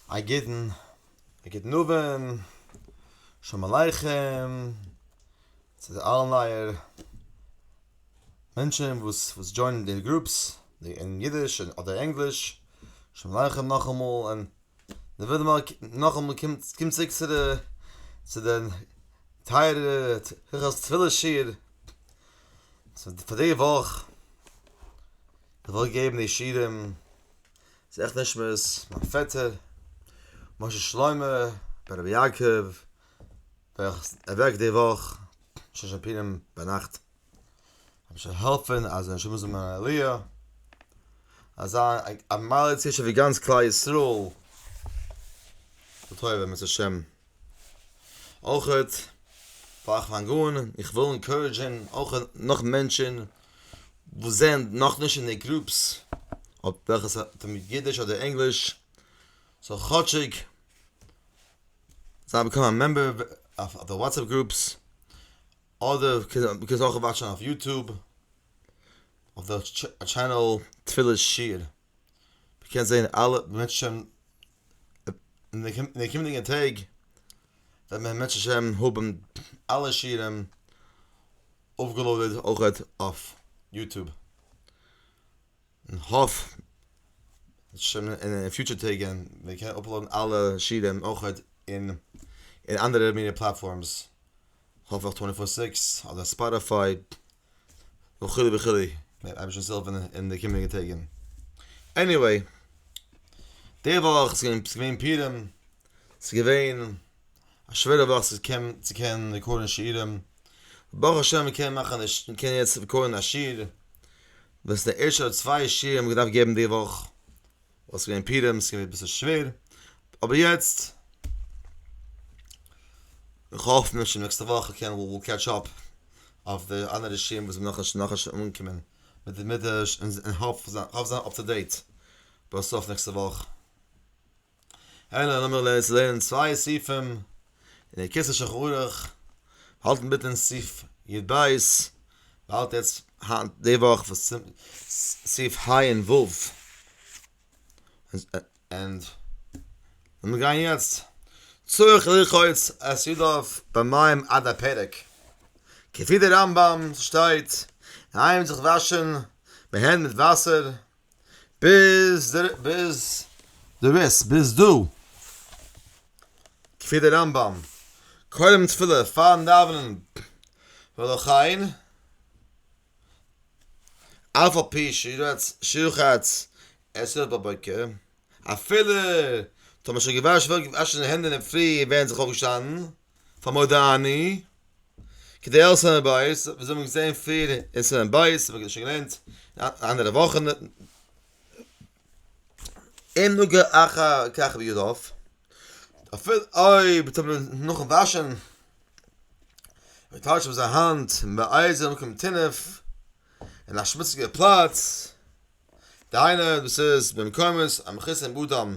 א גוטן גוטן אווענט, שלום עליכם צו די אלע נייער מענטשן וואס וואס דזשוינען די גרופס אין אידיש אדער ענגליש, שלום עליכם נאכאמאל און נאכאמאל קומט צוריק צו די צו די טייערע הלכות תפילה שיעור פאר די וואך, איך וועל געבן די שיעורים. זכר נשמת מיין פעטער משה שלמה בן רבי יעקב וועלכער איז אוועק די וואך ששת פורים ביינאכט האב שוין העלפען אז זיין נשמה זאל מיין עליה אז זיין א מעלה צו שוויגאנץ כלל ישראל לטובה בעזרת השם אויך פאר איך פאנג אן, איך וויל אינקארעדזשען אויך נאך מענטשען וואס זענען נאכנישט אין די גרופס אויף וועלכע עס האט מיט אידיש אדער ענגליש זאל כאטשיג זיי באקומען א מעמבער אויף די וואטסעפפ גרופס אדער מ'קען עס אויך וואטשען אויף יוטוב אויף די טשענעל תפילת שיר. מען קען זען אלע מענטשען אין די אין די קומענדיגע טעג וועט מען בעזרת השם האבען אלע שיעורים אויפגעלאדעד אויכעט אויף יוטוב, כ'האף שוין אין די פיוטשער טעג ווען מען קען אפלאדען אלע שיעורים אויכעט אין אנדערע מיני פלאטפארמס, האפעך טווענטי פאר סיקס אדער ספאטיפיי. וכו' וכו', מ'וועט אייביג שוין סעלפן אין די קומענדיגע טעג, עניוועי, די וואך ס'איז געווען פורים, ס'איז געווען א שווערע וואך צו קענען רעקארדן שירים, ברוך השם מ'קען מאכן די ש מ'קען יעצט רעקארדן א שיר, וואס די ערשטע צוויי שירים האב איך געדארפט געבן די וואך, וואס איז געווען פורים איז געווען אביסל שווער, אבער יעצט איך האף מיר שוין נעקסטע וואך קען וויל קעטש אפ אויף די אנדערע שיעורים וואס זענען נאכנישט נאכנישט אנגעקומען מיט די מדרש און און האף האף זיין אפ טו דעיט ביי סוף נעקסטע וואך, העלא לאמיר לערנען צוויי סעיפים און דער כסא שולחן ערוך האלטן ביטע אין סעיף יד בית, מ'האלט יעצט היינט די וואך וואס סעיף ה און ו', ענד לאמיר גיין יעצט, צריך לרחוץ את ידיו במים עד הפרק, כפי די רמב ם שטייט, מ'הייבט זיך וואשן די הענט מיט וואסער, ביז די ביז די ריס ביז דא כפי די רמב ם קודם תפילה פארן דאווענען ולכן אף על פי שירץ שירחץ עס איז בבוקר אפילו טאמער שוין געוואשן וועש אין די הענט אינדערפרי און ווערן זיך אויפגעשטאנען. פאר מודעני כדי העלפן זיין בית ווי אזוי מיר זעהן פריער אין סימן ב' וואס מיר האבן שוין געלערנט אנדערע וואכן אין נוגע אחר כך בידוף אפילו אויב טוט מען נאכן וואשן מען טייטש אויף זיין האנט באייז אין מקום טינוף אין א שמוציגע פלאץ דהיינו דאס איז במקומות המכוסים באדם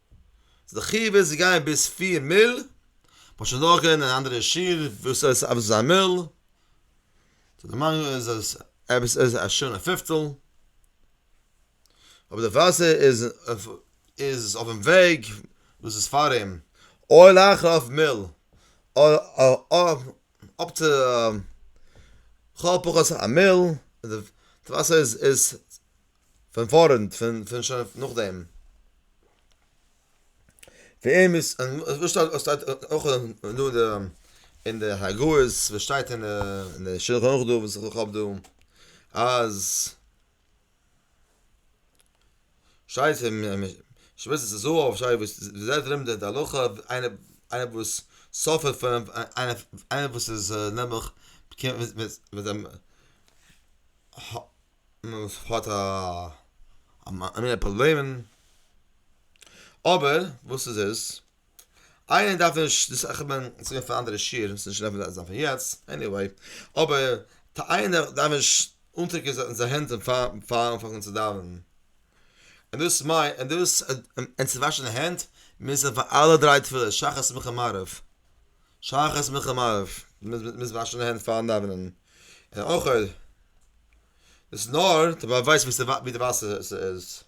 איז די חיוב איז צו גיין ביז פֿיר מיל, מ'האט שוין דורך גערעדט אין אנדערע שיעור וואס הייסט אויף זיין מיל, צו די מים איז עס עפעס איז א שעה און פֿופֿצל, אויב די וואסער איז איז אויפן וועג וואס איז פאר אים, אויל אויך אויף מיל, אפ צו לכל הפחות א מיל, די וואסער איז איז פון פארנט פון פון שוין נאכדעם. וועם איז וואס שטייט וואס שטייט אויך דא די אין די הגהות וואס שטייט אין די שלחן ערוך דא וואס איך האב דא אז שטייט אין משבצת הזהב שטייט וואס די זעלבע לימוד די הלכה איינער איינער וואס סאפערט פון איינער וואס איז נעבעך וואס האט א א מינע פראבלעמען, אבער וואס איז עס, איינער דארף נישט דאס איך בין צוריק אויף א אנדערע שיעור עס איז נישט רעלעוואנט פאר יעצט, עניוועי, אבער איינער דארף נישט אנטרינקען זיין זיין הענט פארן אנפאנגען צו דאווענען, און דאס מיין און דאס און צו וואשן די הענט מוז מען פאר אלע דריי תפילות שחרית מנחה מעריב, שחרית מנחה מעריב מוז מען וואשן די הענט פארן דאווענען. און אויך אויב איז נאר די באווייז ווי ס'ווא ווי די וואסער איז איז.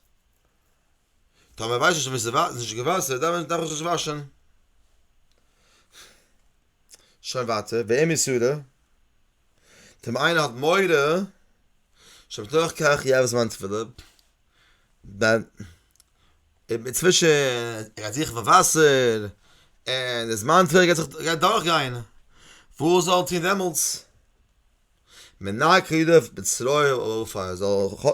טאמער ווייסט נישט ווי ס'ווא איז נישט געוואסער דאן ווען דארף איך עס נישט וואשען. שוין ווייטער ואם יסורו טאמער איינער האט מורא שבתוך כך יהרוס מיין תפילה דאן. אינצווישן ער גייט זוכן פאר וואסער, און די זמן טבע גייט זיך גייט דורכגיין, וואס זאל ער טון דעמאלטס? מנקה ידיו בצרויה ובעפר, ער זאל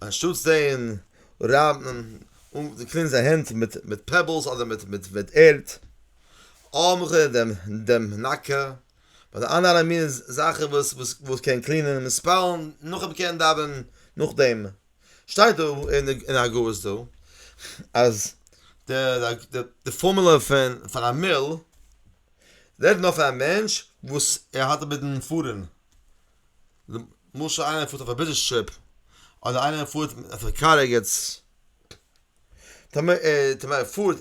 אנשטאטס דעם רייבן און קלינען זיין הענט מיט מיט פעבעלס אדער מיט מיט מיט ערד, עמך דעם דעם מנקה, ביי די אנדערע אלע מינע זאכן וואס וואס קען קלינען און ספעלן, נאכדעם קען ער דאווענען נאכדעם. שטייט דא אין אגרות דא אז די פארמולע פון פאר א מיל רעדט נאר פאר א מענטש וואס ער האלט אינמיטן פארן, למשל איינער פארט אויף א ביזנעס טריפ אדער איינער פארט אויף א קאר ערגעץ, טאמער ער פארט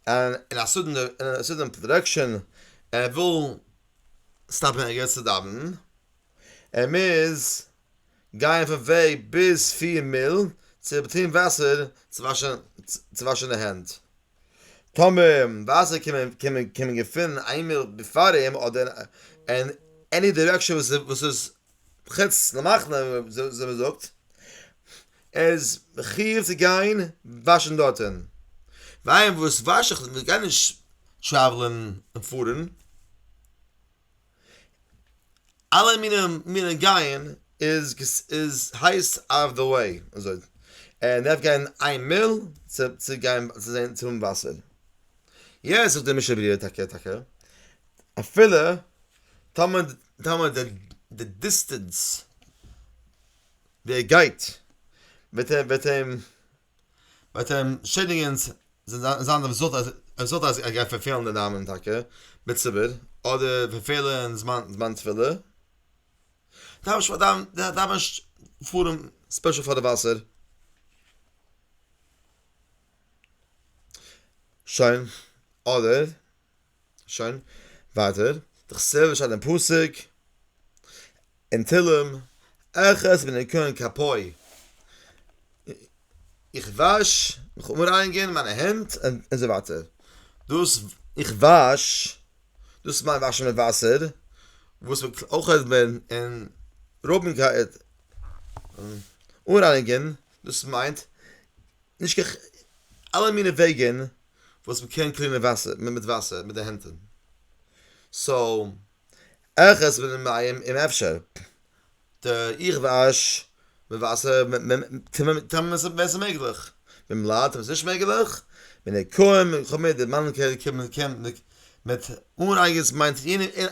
אין א סאדען דירעקשאן ער וויל סטאפן ערגעץ צו דאווענען. ער מוז גייען פון וועג ביז פֿיר מיל צו טון וואסער צו וואשן צו וואשן די הענט. טאמער ווייזער קומען קומען קומען געפונען איין מיל בעפאר אים אדער אין עני דירעקשאן וואס וואס איז חוץ למחנה ווי מ'זאגט, איז מחיוב צו גיין וואשן דארטען. ווייל וואס וואש איך? מ'גייט נישט טרעוולען און פארן. אלע מיני גייען איז הייס אוט אוו די וועי, און דארף גיין איין מייל צו גיין צו זען צו האבן וואסער, יעס זאגט די משנה ברורה טאקע טאקע אפילו טאמער טאמער די דיסטענס ווי ער גייט וועט אים וועט אים ביי טעם שעדינגענס זענען זיין די רעזולטאט אז ער גייט פארפעלן די דאווענען טאקע מיט ציבור אדער פארפעלן זמן תפילה דארף דאווענען פארן ספעשל פאר די וואסער. שוין אדער. שוין, ווייטער. דכסוף ווי שטייט אין פסוק אין תהלים אחת מן הניקיון כפיי איך וואש מיך אנרייניגען מיינע הענט און אזוי ווייטער, דאס איך וואש דאס מיינט וואשן מיט וואסער וואס מען טראכט מען אין רבים כעת אנרייניגען דאס מיינט נישט קיין אלע מיני וועגען וואס מ'קען קלינען וואסער מיט וואסער מיט די הענטען סאו עכז מן המים און אפשר די איך וואש מיט וואסער טאמער ס'איז מעגליך מן בלאט אויב ס'איז נישט מעגליך מן ניקויים וכו' מיט די מאן קען קען מיט אנרייגענס מיינט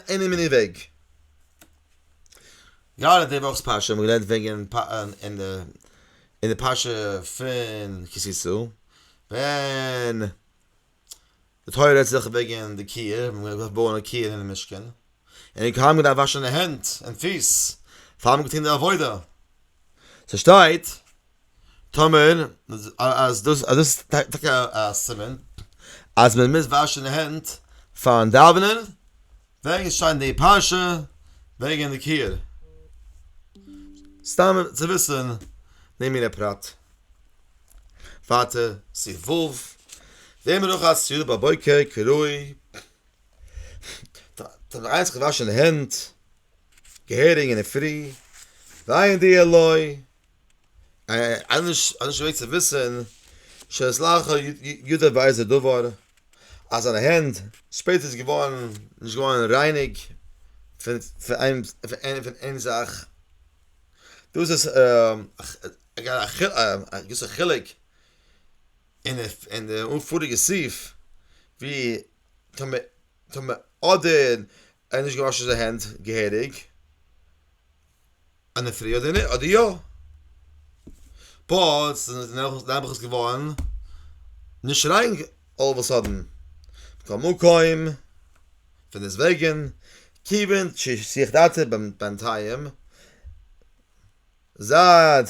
עני מיני וועג. יא די וואכ'ס פרשה האבן מיר געלערנט וועגן אין די פרשה פון כי תשא ווען די תורה רעדט זיך וועגן די קיר, מען האט געדארפט בויען א קיר אינעם משכן, און די כהנים געדארפט וואשן די הענט און פיס פאר מען האט געטון די עבודה, ס'שטייט טאמער אז דאס אז דאס איז טאקע א סימן אז מען מוז וואשן די הענט פארן דאווענען וועגן שיין די פרשה וועגן די קעיר. סתם צו וויסן די מינע פרט. ווייטער סי' ו'. די מנוחת יו ט בבוקר כראוי. טאג איינס געוואשן די הענט געהעריג אינדערפרי. ועיין די עלוי. אנש אנש וויל צו וויסען שלח ידו בעזה דבר אז זיינע הענט שפעט איז געווארן נישט געווארן רייניג פון פון איין פון איין זאך דאס איז א געוויסע חילוק אין אין די פאריגע סעיף ווי טאמ טאמ אדער ער האט נישט געוואשן זיינע הענט געהעריג. אן ענטפער יא אדער ניין אדער יא. פארט איז נעבעך עס געווארן נישט ריין אלל אוו א סאדען. מכל מקום, פונדעסטוועגן, כיוון ששיח דעתי בינתיים, זייט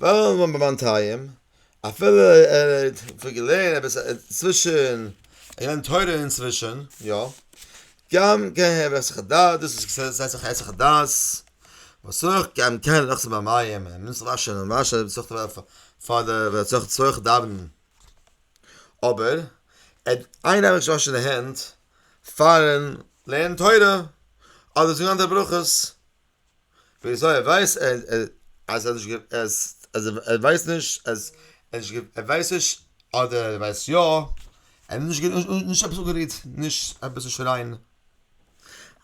וועלן וואוינען ביי מיין טייעם, אפילו ער האט פון געלערנט אביס צווישן, ער לערנט תורה אינצווישן, יא, גם כן הער איך היסח הדעת, דאס איז זיי זיך היסח הדעת, וואס אויך גם כן לאזט זיך באנייען, מען מוז זיך וואשן און וואשן און זיך פאר די ווען ער האט צורך דאווענען, אבער ער איין נעמען נישט וואשן די הענט פארן לערנען תורה, אדער זאגן אנדערע ברכות. וויאזוי ער ווייסט אז ער ווייסט נישט אז ער ווייסט נישט אדער ער ווייסט יא ער האט נישט עפעס אפגערירט נישט עפעס צו שרייען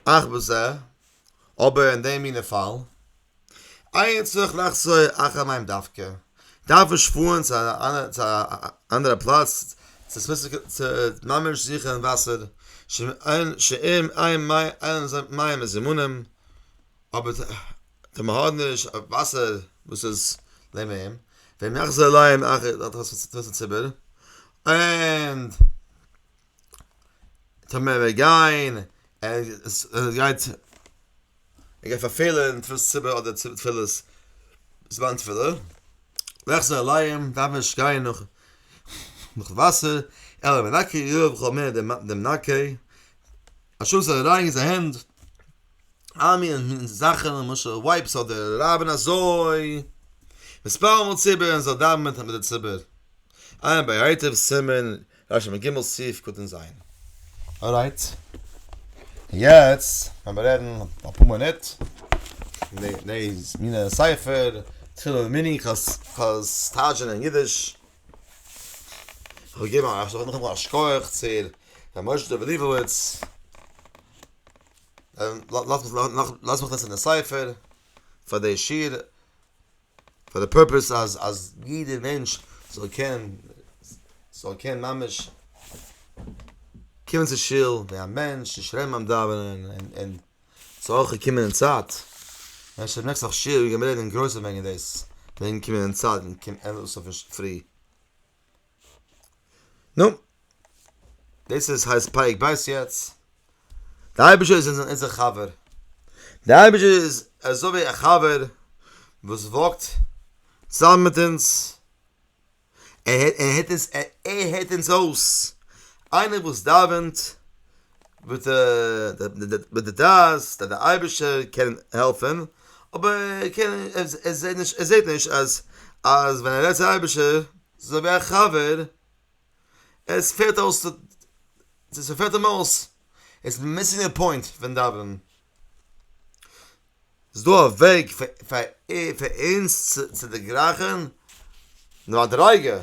אך בזה אבער אין די מינע פאל איין צריך לחזור אחר מים דווקא דארף מען שפארן צו א אנדערע פלאץ צו ממש זיכען וואסער שאין אין מים זימונים אבער טאר מען האט נישט אויף וואסער וואס איז נעבן אים, ווען נאך זיי לייען אכ ד האט עס צו טון צום ציבור, און טאר מען וועט גיין ער גייט ער גייט פארפעלען תפילת ציבור אדער תפילת זמן תפילה, נאך זיי לייען דארף מען נישט גיין נאך נאך וואסער, אלא מנקה יאר וכל מיני דעם מנקה. א שאלה זיך אריין אין זיי הענט אלע מיני מיני זאכן למשל ווייפס אדער רבין אזוי מספר מאל ציבור און זיי דאווען מיט די ציבור עיין ביתר סימן רשמ ג סי' קטן ז. ארייט. יעצט העמער רעדן אפאר מינוט וועגן די מיני ספר תפילין מיני חז ל סטאזשען אין אידיש. כ'האב געגעבן א זאגן נאכאמאל א שכח צו ר' משה דוב ליבוביץ, לאז מיך לייגן די ספר פאר די שיר, פאר די פורפעס אז אז יעדער מענטש זאל קענען זאל קענען ממש קומען צו שול ווי א מענטש און שרייבן ביים דאווענען און און. ס'אויך געקומען אין צייט, ווען שוין נעקסט וואך שיעור גיימיר רעדן אין גרויסן וועגן דאס, וועגן קומען אין צייט ווען קומט ענדליך אויס אויפן פרי. נו, דאס איז הייסט פרק ב' יעצט. דער אייבערשטער איז אונזער חבר. דער אייבערשטער איז אזוי ווי א חבר וואס וואקט צוזאמען מיט אונז. ער הערט אונז אויס, איינער וואס דאווענט מיט די דעת אז דער אייבערשטער קען העלפן, אבער ער זעט נישט אז ווען ער רעדט צום אייבערשטער אזוי ווי א חבר, עס פעלט אים אויס, עס מיסינג די פוינט פון דאווענען. איז דא א וועג פאר אונז צו דערגרייכן די מדריגה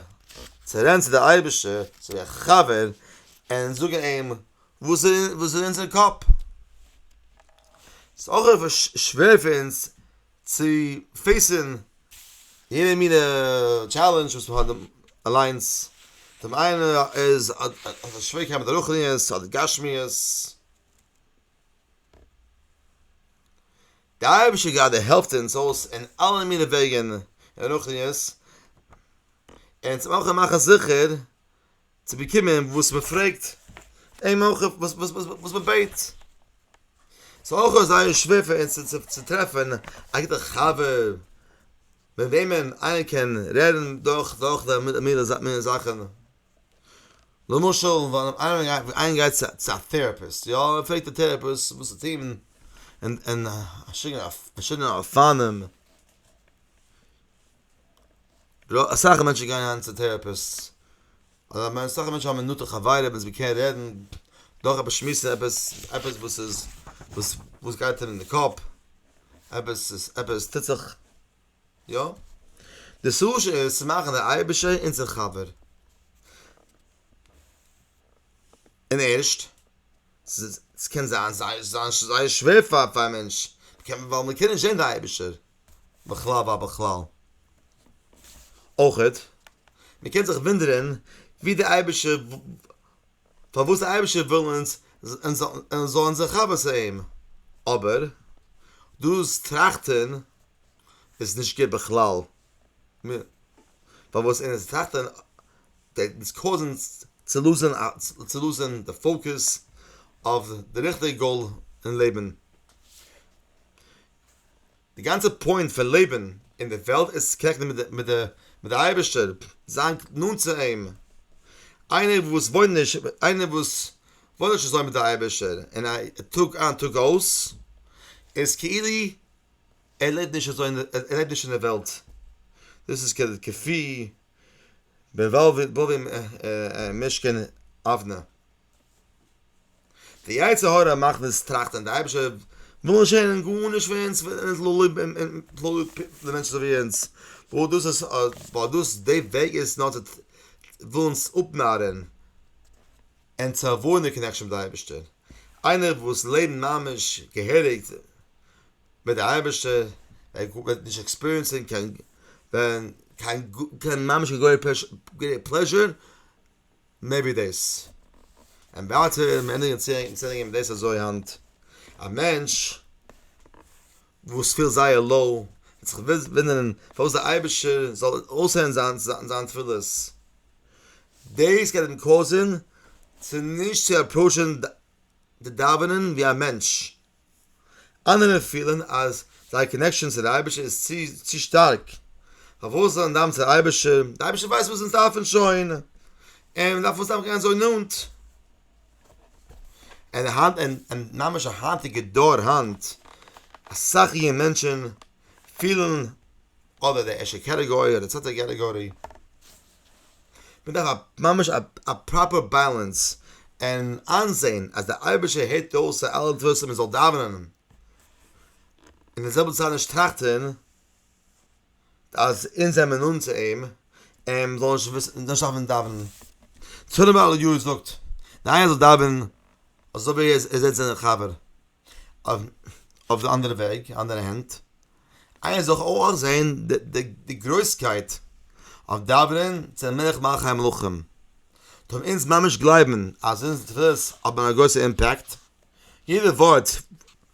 צו רעדן צו די אייבערשטער צו א חבר און זאגן אים וואס איז אין אונזער קאפ? ס'איז אויך אביסל שווער פאר אונז צו פעיסן יעדע מינע טשעלענדזש וואס מ'האט אליינס, דעם איינער איז האט א שוועריקייט מיט די רוחניות אדער גשמיות, די אייבישטער גראדע העלפט אונז אויס אין אלע מיני וועגן אין רוחניות, און צו אויך מאכן זיכער צו באקומען וואס מען פרעגט אים אויך וואס מען בעט, ס'איז אויך זייער שווער פאר אונז צו טרעפן א גוטע חבר מיט וועמען איינער קען רעדן דורך די מיני זאכן. למשל ווען איינער גייט צו א טעראפיסט יא, און ער פרעגט די טעראפיסט וואס צו טון, און פארשידענע אופנים, אסאך מענטשן גייען היינט צו טעראפיסט, אסאך מענטשן האבן נאנטע חברים וואס מען קען רעדן, דורך עפעס שמועסן עפעס, עפעס וואס איז, וואס גייט אים אין די קאפ, עפעס עפעס טוט זיך. יא? די סושי איז צו מאכן די אייבישער אונזער חבר. און ערשט, ס'קען זיין זייער שווער פאר א מענטש, ווייל מ'קען נישט זען די אייבישטער בכלל ובכלל. אויכעט, מ'קען זיך וואונדערען ווי די אייבישטער פארוואס דער אייבערשטער וויל אונז אונז זאלן זיך חבר צו אים, אבער דאס טראכטען איז נישט גוט בכלל, פארוואס אונז טראכטען גייט אונז קאוזען צו לוזען צו לוזען די פאוקעס אויף די ריכטיגע גאול אין לעבען. די גאנצע פוינט פון לעבן אין די וועלט איז צו קאנעקטן מיט די אייבערשטער, זיין נאנט צו אים, איינער וואס וואוינט נישט איינער וואס וואוינט נישט אזוי מיט די אייבערשטער אין א טאג איין טאג אויס, איז כאילו ער לעבט נישט אזוי ער לעבט נישט אין די וועלט, דאס איז כפי בבא ומשכן אבנר. די יצר הרע מאכט אונז טראכטען די אייבישטער וויל נישט הערען גארנישט פון אונז און איז לא לב און לא לב די מענטשען זאל ווי אונז וויל דאס איז ווייל דאס די וועג איז נאר צו וויל אונז אפנארען און צו עוואוידען די קאנעקשען מיט די אייבישטער איינער וואס לעבט ממש געהעריג מיט די אייבישטער ער וועט נישט עקספיריענסען קיין קיין ממש קיין גרעיט פלעזשער. מעבי דעיס. און ווייטער ווען מען ענדיגט מיט צענדיגן מיט דעיס אזוי היינט, א מענטש וואס פילט זייער low וועט זיך וואונדערן פארוואס דער אייבערשטער זאל אויסהערן זיין תפילות. דעיס גייט אים קאוזען צו נישט צו עפראוטשען די דאווענען ווי א מענטש אנדערע פילען אז זייער קאנעקשאן צו די אייבערשטער איז צו צו שטארק, פארוואס זאל מען דאווען צו די אייבערשטער, די אייבערשטער ווייסט וואס אונז דארפען שוין, און מען דארף אונז סתם גיין אזוי נאנט. און היינט און און ממש א היינטיגע דור היינט, אסאך יונגע מענטשען פילען אדער די ערשטע קעטעגארי אדער די צווייטע קעטעגארי, מ'דארף א ממש א פראפער בעלענס און איינזעהן אז די אייבערשטער הערט אויס אלעס וואס מ'זאל דאווענען און אין די זעלבע צייט נישט טראכטען אז אונז זעמיר נאנט צו אים און מ'זאל נישט וויסן נישט דארפן דאווענען. צאנזער בעל יו ט זאגט, די איינער זאל דאווענען אזוי ווי ער זעהט זיין חבר. אויף די אנדערע וועג, אנדערע הענט, איינער זאל דאך אויך זען די גרויסקייט אויף דאווענען צו מלך מלכי המלכים, טאר מען אונז ממש גלייבן אז אונזערע תפילות האבן א גרויסע אימפעקט? יעדע ווארט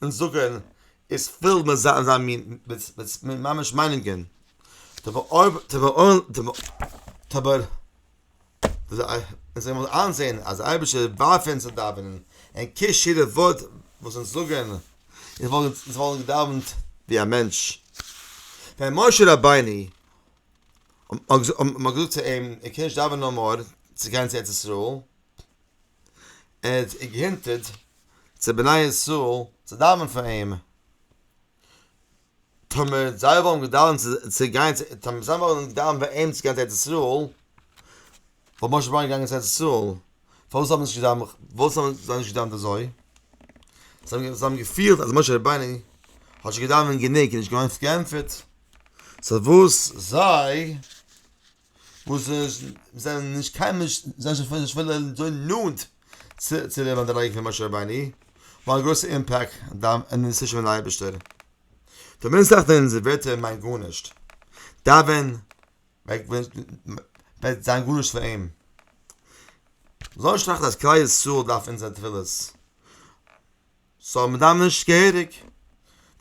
אונז זאגן איז פול מיט זיין מינ מיט ממש מיינונגען, טאבער אויב טאבער אויב טאבער. און זיי וועלן איינזען אז דער אייבערשטער ווארפט אונז צו דאווענען, און קיש יעדע ווארט וואס אונז זאגן, אונז וואלטן געדאווענט ווי א מענטש. ווען משה רבינו האט געזאגט צו אים ער קען נישט דאווענען נאמאר צו גיין צו ארץ ישראל, ער האט געהינטערט צו בני ישראל צו דאווענען פאר אים, טאמער זיי וואלן געדאווענט צו גיין צו טאמער זיי וואלן געדאווענט ביי אים צו גיין צו ארץ ישראל, וואלט משה רבינו געגאנגען צו ארץ ישראל, פארוואס האבן זיי נישט געדאווענט אזוי? זיי האבן געפילט אז משה רבינו האט שוין געדאווענט גענוג און נישט געווארן פארענטפערט, סא וואס זיי וואס זענען נישט קיין נאנט צו די מדריגה פון משה רבינו, האבן א גרויסע אימפעקט אין די נסיון פון אייבערשטער. די מין זאך ווען אונזער ווערטער מיינט גארנישט, דאווען וועט זיין גארנישט פאר אים. זאל נישט טראכטן אז כלל ישראל דארף אונזער תפילות. סאו מען דארף נישט געהעריג.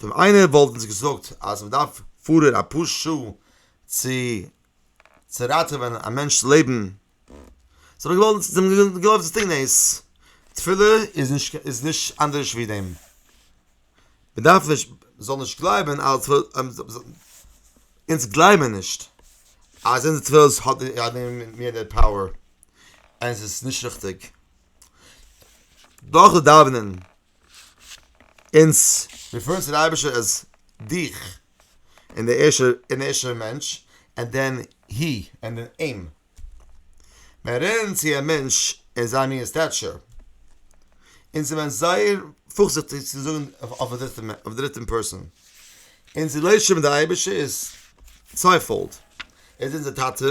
ווען איינער וואלט אונז געזאגט אז מען דארף פארען אפאר שעה צו צו ראטעווען א מענטש'ס לעבן, זאל מען געוואלט זאל מען געגלייבט דאס דינג ניס. תפילה איז נישט איז נישט אנדערש ווי דעם. מען דארף נישט זאל נישט גלייבען אז אונז גלייבען נישט אז אונזער תפילות האט די מיר די פאוער, עס איז נישט ריכטיג. דאָך דאַװנען אונדז מיר פֿאָרן צו דער אײבערשטער אַז דיך, און דער ערשטער און ערשטער מענטש, און דען הי, און דען אים. װען רעדן צו אַ מענטש אין זײַן מין און סטעטשור, אונדז איז מען זײער פֿאָרזיכטיק צו זאָגן אױף אַ דריטן מענ אױף דריטן פּערסאָן. אונדז לױב שױן מיט דער אײבערשטער איז צװײפֿאָלד, ער איז אונדזער טאַטע,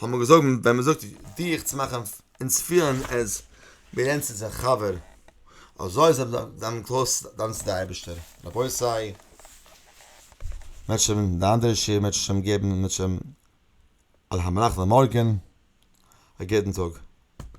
האט מען געזאגט ווען מען זאגט ווי איך צו מאכן אונז פילן עז מיר רעדן צו אונזער חבר, אזוי זיי זיי האבן קלאר דן צו די אייבערשטער, רבותי מען וועט שוין די אנדערע שיעור מען וועט שוין שוין געבן מען וועט שוין על המנח למארגען, א גוטן טאג.